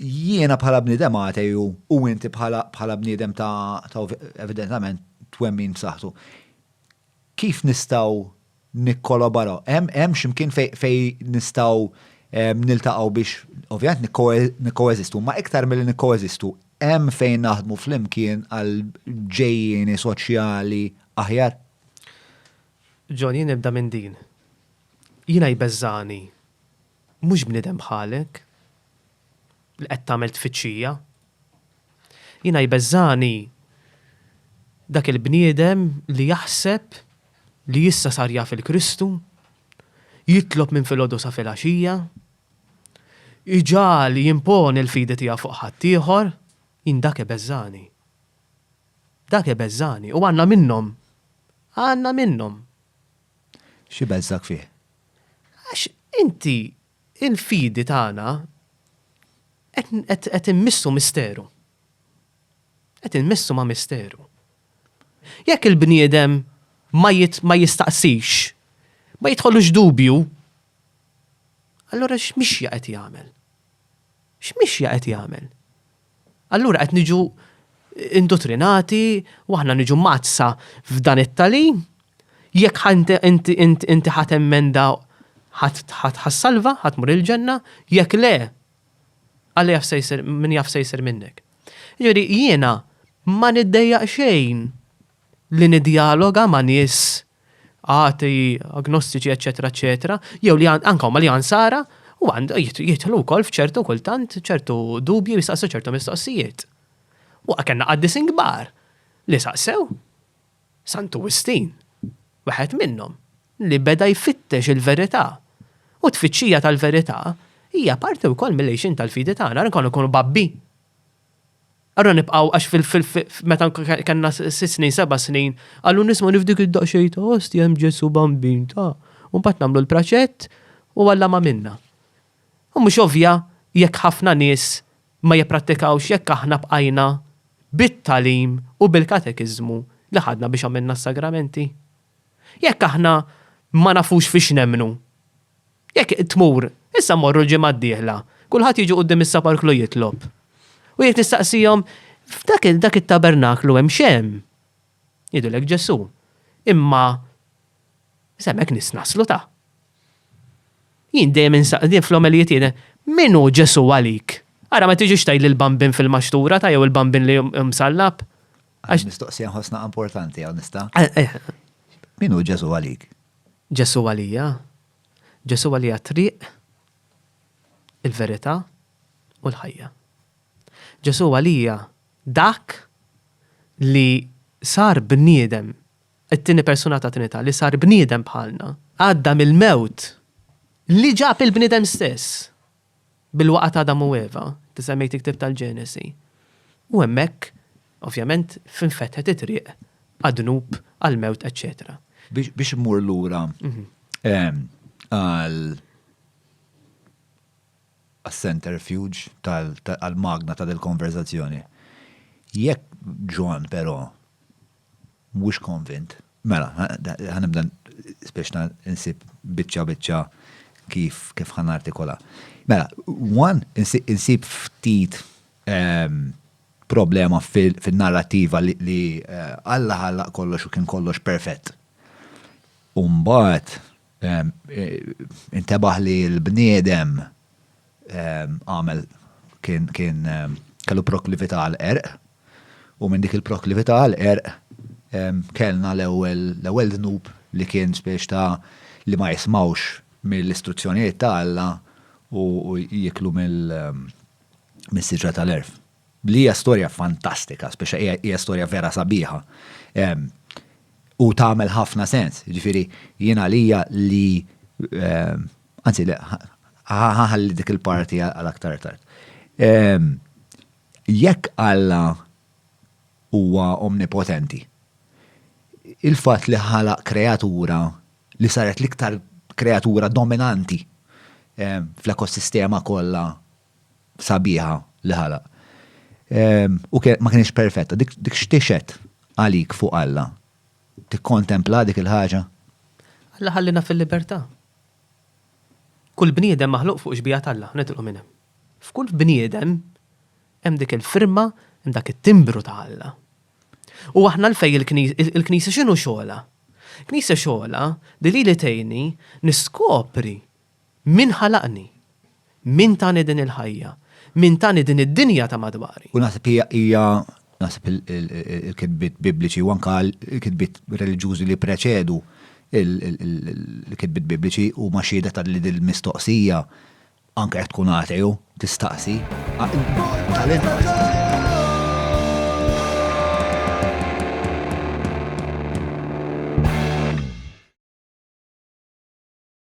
Jiena bħala bniedem ateju u inti bħala bniedem ta' evidentament twemmin b'saħħtu. Kif nistgħu nikkolabaraw? Hemm x'imkien fejn nistgħu niltaqgħu biex ovvjament nikkoeżistu, ma iktar milli nikkoeżistu, hemm fejn naħdmu flimkien għal ġejjieni soċjali aħjar? John, jien nibda minn din. Jiena jbeżżagħni Mhux bniedem bħalek li qed tagħmel tfittxija. Jiena jbeżżagħni dak il-bniedem li jaħseb li issa sar jaf il-Kristu, jitlob minn filgħodu sa filgħaxija, iġagħal jimponi l-fidi tiegħu fuq ħaddieħor, jien dak ibeżżagħni. Dak ibeżżagħni u għandna minnhom. Għandna minnhom. X'ibelżgħek fih? Għax inti l-fidi tagħna qed immissu misteru. Qed immissu ma' misteru. Jekk il-bniedem ma jistaqsix, ma jidħollux dubju, allura x'mixja qed jagħmel? X'mixja qed jagħmel? Allura qed niġu indutrinati u aħna niġu mazza f'dan it-talim, jekk inti ħat emmenda ħat ħassalva, ħat mur il-ġenna, jekk le, għalli jaf sejser, min jaf sejser minnek. Ġeri, jiena ma niddejja xejn li nidjaloga ma nis atei, agnostiċi, eċċetera, eċċetera, jew li anke huma li ansara, u għandu jidħlu wkoll f'ċertu kultant ċertu dubji jistaqsu ċertu mistoqsijiet. U kellna qaddis inkbar li saqsew Santu Wistin, waħed minnhom, li beda jfittex il-verità. U tfittxija tal-verità hija parti wkoll mill-għixin tal-fidi tagħna, nkunu kunu babbi. Ara nibqgħu għax fil-meta kellna sitt snin, seba' snin, qallu nisma' nifdik id-daqsxejn ta' ostja hemm Ġesù Bambin ta'. U mbagħad nagħmlu l-praċett u Alla ma' minna. U mhux ovvja jekk ħafna nies ma jipprattikawx jekk aħna bqajna bit-tagħlim u bil-katekiżmu li ħadna biex għamilna s-sagramenti. Jekk aħna ma nafux fiex nemmnu. Jekk tmur, issa mmorru l-ġimgħa d-dieħla, kulħadd jiġi quddiem is-saparklu jitlob. U jekk tistaqsihom, 'F'dak dak it-tabernaklu hemm x'hemm? Jgħidulek Ġesù, 'Imma se hemmhekk nies naslu ta'. Jien dejjem insaqdin fl-omelijiet jiena, 'Min hu Ġesù għalik? Ara ma tiġix tgħidli l-bambin fil-maxtura ta' jew il-bambin li msallab. Għax mistoqsija nħossna importanti għaw nista. Eh, eh. Min hu Ġesu għalik? Ġesu għalija. Ġesu għalija triq, il-verità u l-ħajja. Ġesu għalija dak li sar bniedem, it-tini persuna ta' trinita, li sar bniedem bħalna, għadda mill-mewt li ġab il-bniedem stess. bil-waqgħa ta' Adam u Eva, inti semmejt il-ktieb tal-Ġenesi, u hemmhekk, ovvjament, f'infetħet it-triq għad-dnub, għall-mewt, eċċetera. Biex immur lura għas-centerfuge tal-magna ta' dil-konverżazzjoni, jekk Ġwann però Mhux konvint. Mela, ħa nibda biex insib biċċa biċċa kif kif ħa nartikola. Mela, one, insib ftit problema fin-narrativa li Alla ħallaq kollox u kien kollox perfett. U mbagħad, Intebaħ li l-bniedem għamel kien kellu proklività għal qerq u minn dik il-proklività għal qerq kellna l-ewwel dnub li kien spiex ta' li ma jismawx mill-istruzzjonijiet ta' Alla u jiklu mis-siġra tal-għerf. li hija storja fantastika, speċa hija storja vera sabiħa. U tagħmel ħafna sens, ġifieri jien għalija li anzi ħaħalli dik il-parti għal aktar tard. Jekk Alla huwa omnipotenti, il-fatt li ħalaq kreatura li saret l-iktar kreatura dominanti fl-ekosistema kollha sabiħa li ħalaq. U ma kienx perfetta, dik xtixet għalik fuq Alla. Tikkontempla dik il-ħaġa? Alla ħallina fil-libertà. Kull bniedem maħluq fuq xbija t'Alla, nitilqu minn hemm. F'kull bniedem hemm dik il-firma, hemm dak it-timbru ta' Alla. U aħna l-fej il-Knisja x'inhu xogħolha? Il-Knisja xogħolha li lili tgħinni niskopri Min ħalaqni? Min tani din il-ħajja? Min tani din id-dinja ta' madwari? U naħseb hija, hija, naħseb il-kitbiet Bibliċi u anke l-kitbiet reliġjużi li ppreċedu l-kitbiet Bibliċi huma xhieda ta' li din il-mistoqsija anke jekk tkun ateu tistaqsi.